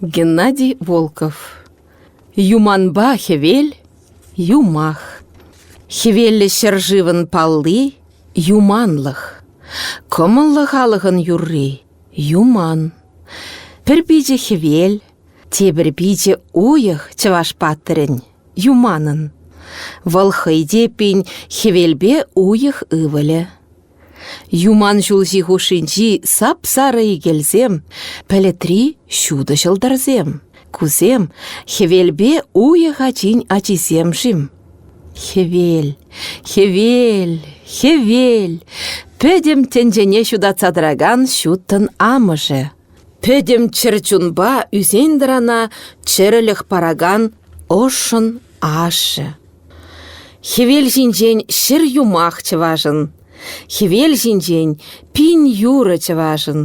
Геннадий Волков Юманпа хӗвел – юмах. Хӗвеллӗ ҫӗршывӑн палли – юманлӑх. Кӑмӑллӑ халӑхӑн юрри – юман. Пӗр пичӗ хӗвел, тепӗр пичӗ уйӑх чӑваш паттӑрӗн – юманӑн. Вӑл хӑй те пин хӗвелпе уйӑх ывӑлӗ. Юман ҫулҫи хушшинчи сап-сарӑ икелсем, пӗлӗтри ҫутӑ ҫӑлтӑрсем. Кусем хӗвелпе уйӑх ачин ачисем-шим? Хӗвел, хӗвел, хӗвел, пӗтӗм тӗнчене ҫутатса тӑракан ҫуттӑн амӑшӗ Пӗтӗм чӗрчунпа ӳсен-тӑрана чӗрӗлӗх паракан ӑшшӑн ашшӗ. Хӗвел ҫинчен ҫӗр юмах чӑвашӑн, Хӗвел ҫинчен пин юрӑ чӑвашӑн,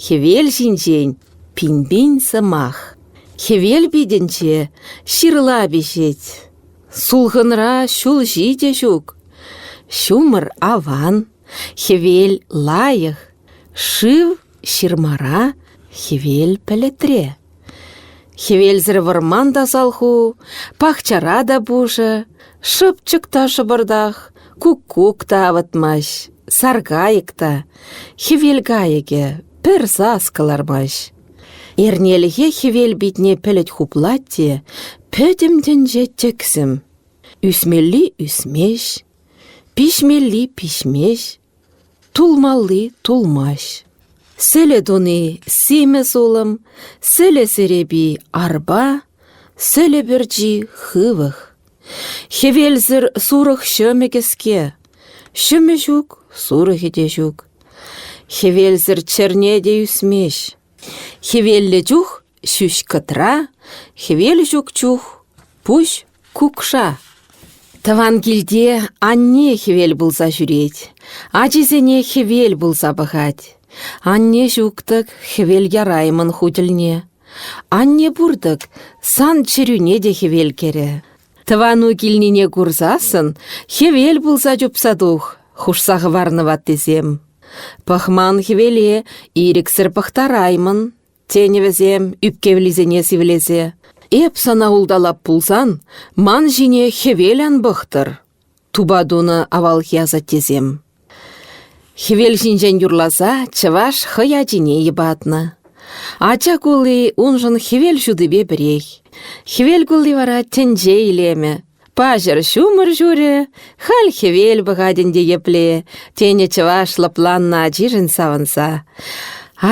Хӗвел ҫинчен пин-пин сӑмах. Хӗвел питӗнче ҫырла пиҫет, Сулхӑнра ҫул ҫитӗ ҫук. Ҫумӑр аван, хӗвел лайӑх, шыв Ҫырмара хӗвел пӗлӗтре. Хӗвелсӗр вӑрман тасал ху, пахчара та пушӑ, шӑпчӑк та шӑпӑртах, куккук та авӑтмасть, саркайӑк та, хӗвел кайӑкӗ пӗр сас кӑлармасть. Эрнелӗхе хӗвел питне пӗлӗт хуплать те пӗтӗм тӗнче тӗксӗм. Ӳсмелли ӳсмест, пиҫмелли пиҫмест, Тулмалли тулмасть. Сӗлӗ туни симӗс улӑм, сӗлӗ серепи арпа, сӗлӗ пӗрчи хывӑх. Хӗвелсӗр сурӑх ҫӑмӗ кӗске, ҫӑмӗ ҫук, сурӑхӗ те ҫук. Хӗвелсӗр чӗрне те ӳсмест. Хӗвеллӗ чух ҫӳҫ кӑтра, хӗвел ҫук чух пуҫ Кукша тӑван килте анне хӗвел пулса ҫӳрет, ачисене хӗвел пулса пӑхать. Анне ҫук-тӑк, хӗвел яраймӑн ху тӗлне. Анне пур-тӑк, сан чӗрӳне те хӗвел кӗрӗ. Тӑвану килнине курсассӑн хӗвел пулса чупса тух, хушса хӑварнӑ ваттисем. Пӑхман хӗвеле ирӗксӗр пӑхтараймӑн. тенӗ вӗсем, ӳпкевлисене сивлесе. «Эп сана улталап пулсан, ман ҫине хӗвел ан пӑхтӑр», — тупа тунӑ авалхи асаттесем. Хӗвел ҫинчен юрласа чӑваш хӑй ачине йӑпатнӑ. Ача кулли уншӑн хӗвел ҫутипе пӗрех. Хӗвел кулли вара тӗнче илемӗ, Паҫӑр ҫумӑр ҫурӗ, халь хӗвел пӑхать ӗнтӗ епле, тенӗ чӑваш лӑпланнӑ ачишӗн савӑнса.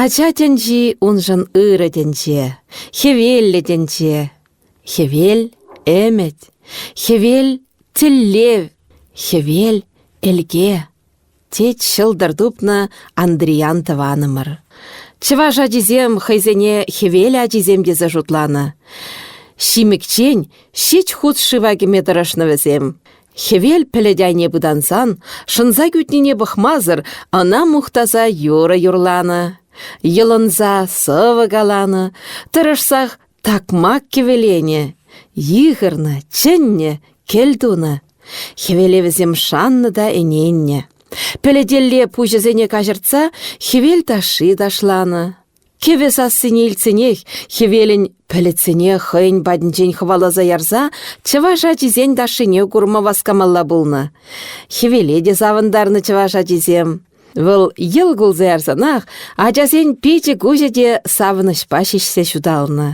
Ача тӗнчи уншӑн ырӑ тӗнче, хӗвеллӗ тӗнче. Хӗвел — ӗмӗт, хӗвел — тӗллев, хӗвел — элке. тет ҫӑлтӑр тупнӑ Андриян тӑванӑмӑр. Чӑваш ачисем хӑйсене хӗвел ачисем тесе шутланӑ. Ҫимӗкчен ҫич хут шыва кӗме тӑрӑшнӑ вӗсем. Хӗвел пӗлӗт айне пытансан, шӑнса кӳтнине пӑхмасӑр, ӑна мухтаса юрӑ юрланӑ. Йӑлӑнса сӑвӑ каланӑ, тӑрӑшсах Такмак кӗвӗленӗ, йыхӑрнӑ, чӗннӗ, кӗлтунӑ. Хӗвелевӗсем шаннӑ та ӗненнӗ. Пӗлӗтелле пуҫӗсене каҫӑртса хӗвел ташши ташланӑ. Кӗвӗ сассине илтсенех хӗвелӗн пӗлӗтсене хӑйӗн патӗнчен хӑваласа ярса чӑваш ачисен ташшине курма васкамалла пулнӑ. Хӗвеле те савӑнтарнӑ чӑваш ачисем. Вӑл йӑл кулса ярсанах ачасен пичӗ-куҫӗ те савӑнӑҫпа ҫиҫсе ҫуталнӑ.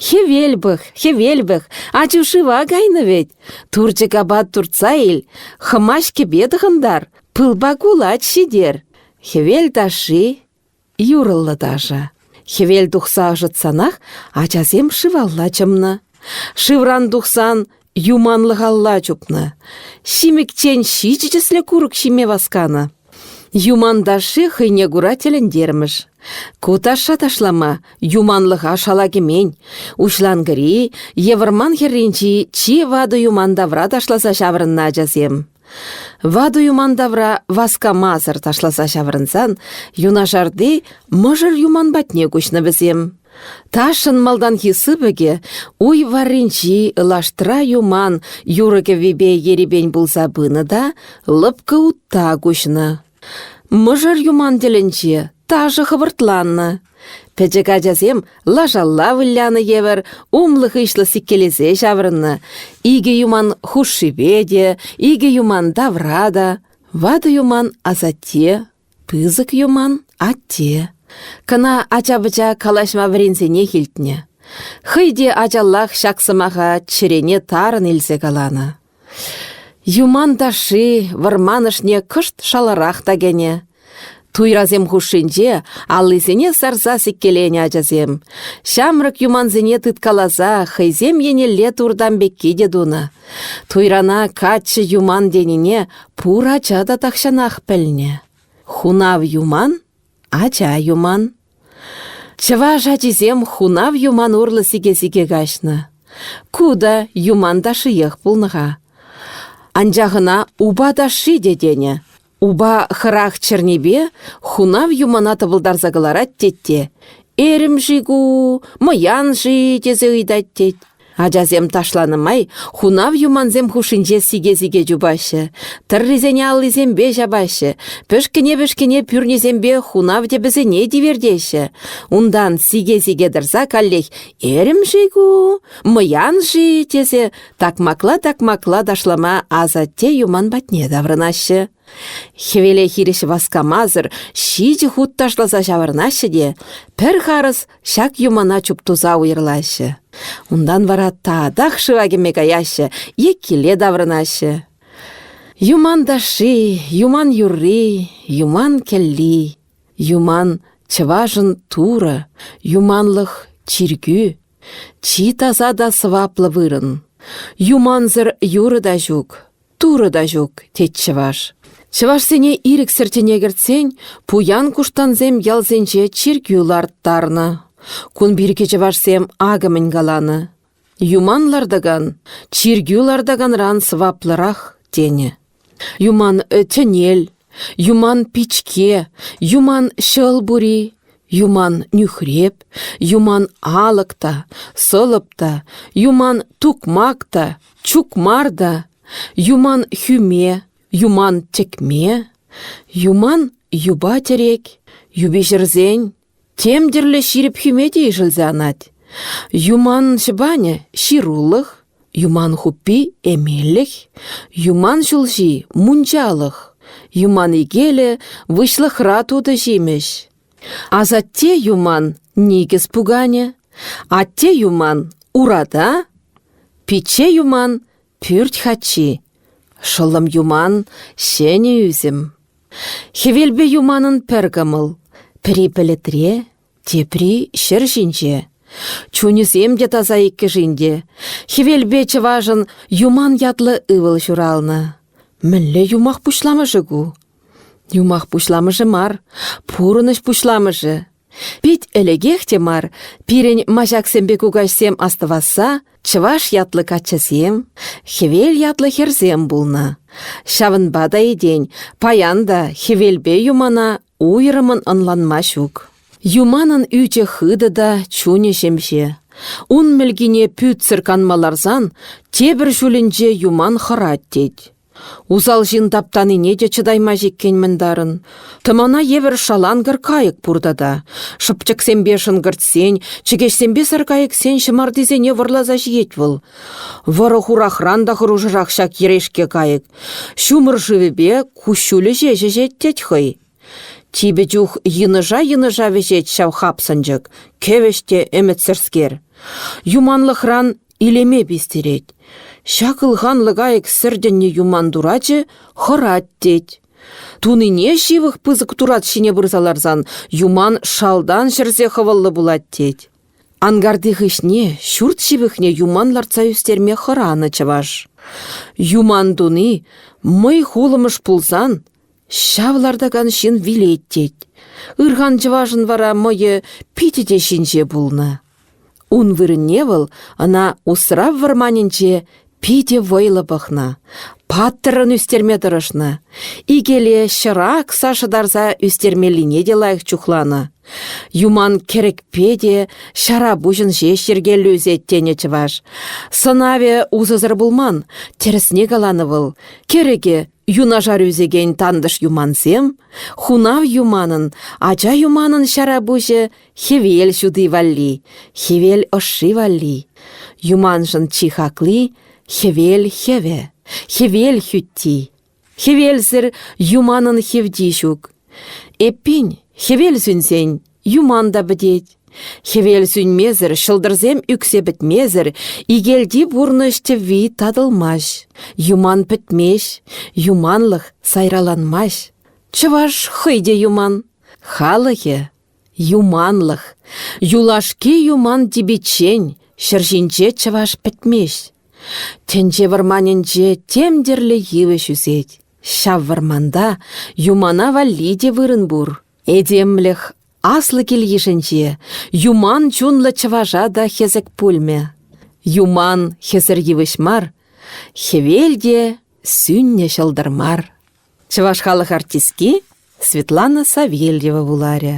«Хӗвел пӑх, хӗвел пӑх, ачу шыва кайнӑ вӗт! Турчӑк апат туртса ил, хӑмаҫ кӗпе тӑхӑнтар, пылпа кулач ҫитер. Хӗвел ташши...» Юрӑллӑ ташӑ. Хӗвел тухса ӑшӑтсанах ачасем шывалла чӑмнӑ. Шывран тухсан юманлӑхалла чупнӑ. Ҫимӗкчен ҫичӗ тӗслӗ курӑк ҫиме васканӑ. Юман ташши хӑйне кура тӗлӗнтермӗш. Ку ташша ташлама юманлӑха шала кӗмен. Уҫланкӑри е вӑрман хӗрринчи чи ватӑ юман тавра ташласа ҫаврӑннӑ ачасем. Ватӑ юман тавра васкамасӑр ташласа ҫаврӑнсан юнашарти мӑшӑр юман патне куҫнӑ вӗсем. Ташшӑн малтанхи сыпӑкӗ уй варринчи лаштра юман юрӑ-кӗввипе ерипен пулса пынӑ та лӑпкӑ утта куҫнӑ. Мӑшӑр юман тӗлӗнче ташӑ хӑвӑртланнӑ. Пӗчӗк ачасем лашалла вылянӑ евӗр умлӑ-хыҫлӑ сиккелесе ҫаврӑннӑ. Икӗ юман хушшипе те, икӗ юман тавра та. Ватӑ юман асатте, пысӑк юман атте. Кӑна ача-пӑча калаҫма вӗренсенех илтнӗ. Хӑй те ачаллах ҫак сӑмаха чӗрене тарӑн илсе каланӑ. Юман ташши вӑрман ӑшне кӑшт шаларах та кӗнӗ. Туйрасем хушшинче аллисене сарса сиккеленӗ ачасем. Ҫамрӑк юмансене тыткаласа хӑйсем еннелле туртам пекки те тунӑ. Туйрана каччӑ юман тенине пур ача та тахҫанах пӗлнӗ. Хунав юман, ача юман. Чӑваш ачисем хунав юман урлӑ сике-сике каҫнӑ. Ку та юман ташшиех пулнӑ-ха. Анчах ӑна упа ташши те тенӗ. Упа хӑрах чӗрнипе хунав юмана тӑпӑлтарса кӑларать тет те «Эрӗм-ши ку, мӑян-ши?» тесе ыйтать тет. Ачасем ташланӑ май хунав юмансем хушшинче сике-сике чупаҫҫӗ, тӑррисене аллисемпе ҫапаҫҫӗ, пӗшкӗне-пӗшкӗне пӳрнисемпе хунав тӗпӗсене тивертеҫҫӗ. Унтан сике-сике тӑрса каллех «Эрӗм-ши ку? Мӑян-ши?» тесе такмакла-такмакла ташлама асатте юман патне таврӑнаҫҫӗ. Хӗвеле хирӗҫ васкамасӑр ҫичӗ хут ташласа ҫаврӑнаҫҫӗ те пӗр харӑс ҫак юмана чуптуса уйӑрлаҫҫӗ. Унтан вара татах шыва кӗме каяҫҫӗ е киле таврӑнаҫҫӗ. Юман ташши, юман юрри, юман кӗлли, юман чӑвашӑн турӑ, юманлӑх чиркӳ, чи таса та сӑваплӑ вырӑн. Юмансӑр юрӑ та ҫук. Турӑ та ҫук, тет чӑваш. Чӑвашсене ирӗксӗр тӗне кӗртсен пуян-куштансем ялсенче чиркӳ ларттарнӑ. Кун пирки чӑвашсем акӑ мӗн каланӑ. Юман лартакан чиркӳ лартаканран сӑваплӑрах тенӗ. Юман э, тӗнел, Юман пичке, юман ҫӑл пури, юман нӳхреп, юман алӑк та, сӑлӑп та, юман тукмак та, чукмар та, юман хӳме, юман тӗкме, юман юпа-тӗрек, юпи ҫӗрсен, Тем тӗрлӗ ҫирӗп хӳме те ишӗлсе анать. Юман ҫӑпанӗ – ҫырулӑх, юман хуппи – эмелӗх, юман ҫулҫи – мунчалӑх, юман икелӗ – выҫлӑхра тутӑ ҫимӗҫ. Асатте юман – никӗс пуканӗ, атте юман – урата, пичче юман Пӳрт хачи, шӑллӑм юман, ҫӗнӗ ӳсӗм. Хӗвелпе юманӑн пӗр кӑмӑл, пӗри пӗлӗтре, тепри ҫӗр ҫинче. Чунӗсем те таса иккӗшин те. Хӗвелпе чӑвашӑн Юман ятлӑ ывӑл ҫуралнӑ. Мӗнле юмах пуҫламӑшӗ ку? Юмах пуҫламӑшӗ мар, пурӑнӑҫ пуҫламӑшӗ. Пит ӗлӗкех те мар пирӗн маҫаксемпе кукаҫсем астӑвасса чӑваш ятлӑ каччӑсем, хӗвел ятлӑ хӗрсем пулнӑ. Ҫавӑнпа та этен паян та хӗвелпе юмана уйрӑмӑн ӑнланма ҫук. Юманӑн ӳчӗ хытӑ та чунӗ ҫемҫе. Ун мӗлкине пӳтсӗр канма ларсан тепӗр ҫулӗнче юман хӑрать тет. Усал ҫын таптанине те чӑтаймасть иккен мӗнтарӑн. Тӑмана евӗр шаланкӑр кайӑк пур тата. Шӑпчӑксемпе шӑнкӑртсен, чӗкеҫсемпе саркайӑксен ҫӑмартисене вӑрласа ҫиет вӑл. Вӑрӑ-хурахран та хӑрушӑрах ҫак йӗрешке кайӑк. Ҫумӑр шывӗпе куҫҫулӗ ҫеҫ ӗҫет тет хӑй. Типӗ чух йынӑша-йынӑша вӗҫет ҫав хапсӑнчӑк, кӗвӗҫ те ӗмӗтсӗрскер. Юманлӑхран илеме пистерет. Ҫак ылханлӑ кайӑк сӗртӗннӗ юман турачӗ хӑрать тет. Тунине ҫывӑх пысӑк турат ҫине пырса ларсан юман шалтан ҫӗрсе хӑвӑллӑ пулать тет. Ангарти хыҫне ҫурт ҫывӑхне юман лартса ӳстерме хӑранӑ чӑваш. Юман туни мӑй хулӑмӑш пулсан Ҫав лартакан ҫын вилет тет. Ырхан чӑвашӑн вара мӑйӗ питӗ те ҫинҫе пулнӑ. Ун вырӑнне вӑл ӑна усрав вӑрманӗнче питӗ вӑйлӑ пӑхнӑ, паттӑррӑн ӳстерме тӑрӑшнӑ. Икеле ҫӑра акса шӑтарса ӳстермеллине те лайӑх чухланӑ. Юман кӗрӗкпе те ҫара пуҫӑн ҫеҫ йӗркеллӗ ӳсет тенӗ чӑваш. Сӑнавӗ усӑсӑр пулман, тӗрӗсне каланӑ вӑл. Кӗрӗкӗ юнашар ӳсекен тантӑш юмансем, хунав юманӑн, ача юманӑн ҫара пуҫӗ хӗвел ҫути валли, хӗвел ӑшши валли. Юманшӑн чи хакли хӗвел хӗвӗ, хӗвел хӳтти. Хӗвелсӗр юманӑн хевти ҫук. Эппин, хӗвел сӳнсен юман та пӗтет. Хӗвел сӳнмесӗр, ҫӑлтӑрсем ӳксе пӗтмесӗр, икелти пурнӑҫ тӗвви татӑлмасть. Юман пӗтмест, юманлӑх сайраланмасть. Чӑваш хӑй те юман. Халӑхӗ юманлӑх. Юлашки юман типиччен ҫӗр ҫинче чӑваш пӗтмест. Тӗнче вӑрманӗнче тем тӗрлӗ йывӑҫ ӳсет. Ҫав вӑрманта юмана валли те вырӑн пур. Этемлӗх аслӑ кил-йышӗнче юман чунлӑ чӑваша та хӗсӗк пулмӗ. Юман хӗсӗр йывӑҫ мар, хӗвел те сӳннӗ ҫӑлтӑр мар. Чӑваш халӑх артистки Светлана Савельева вуларӗ.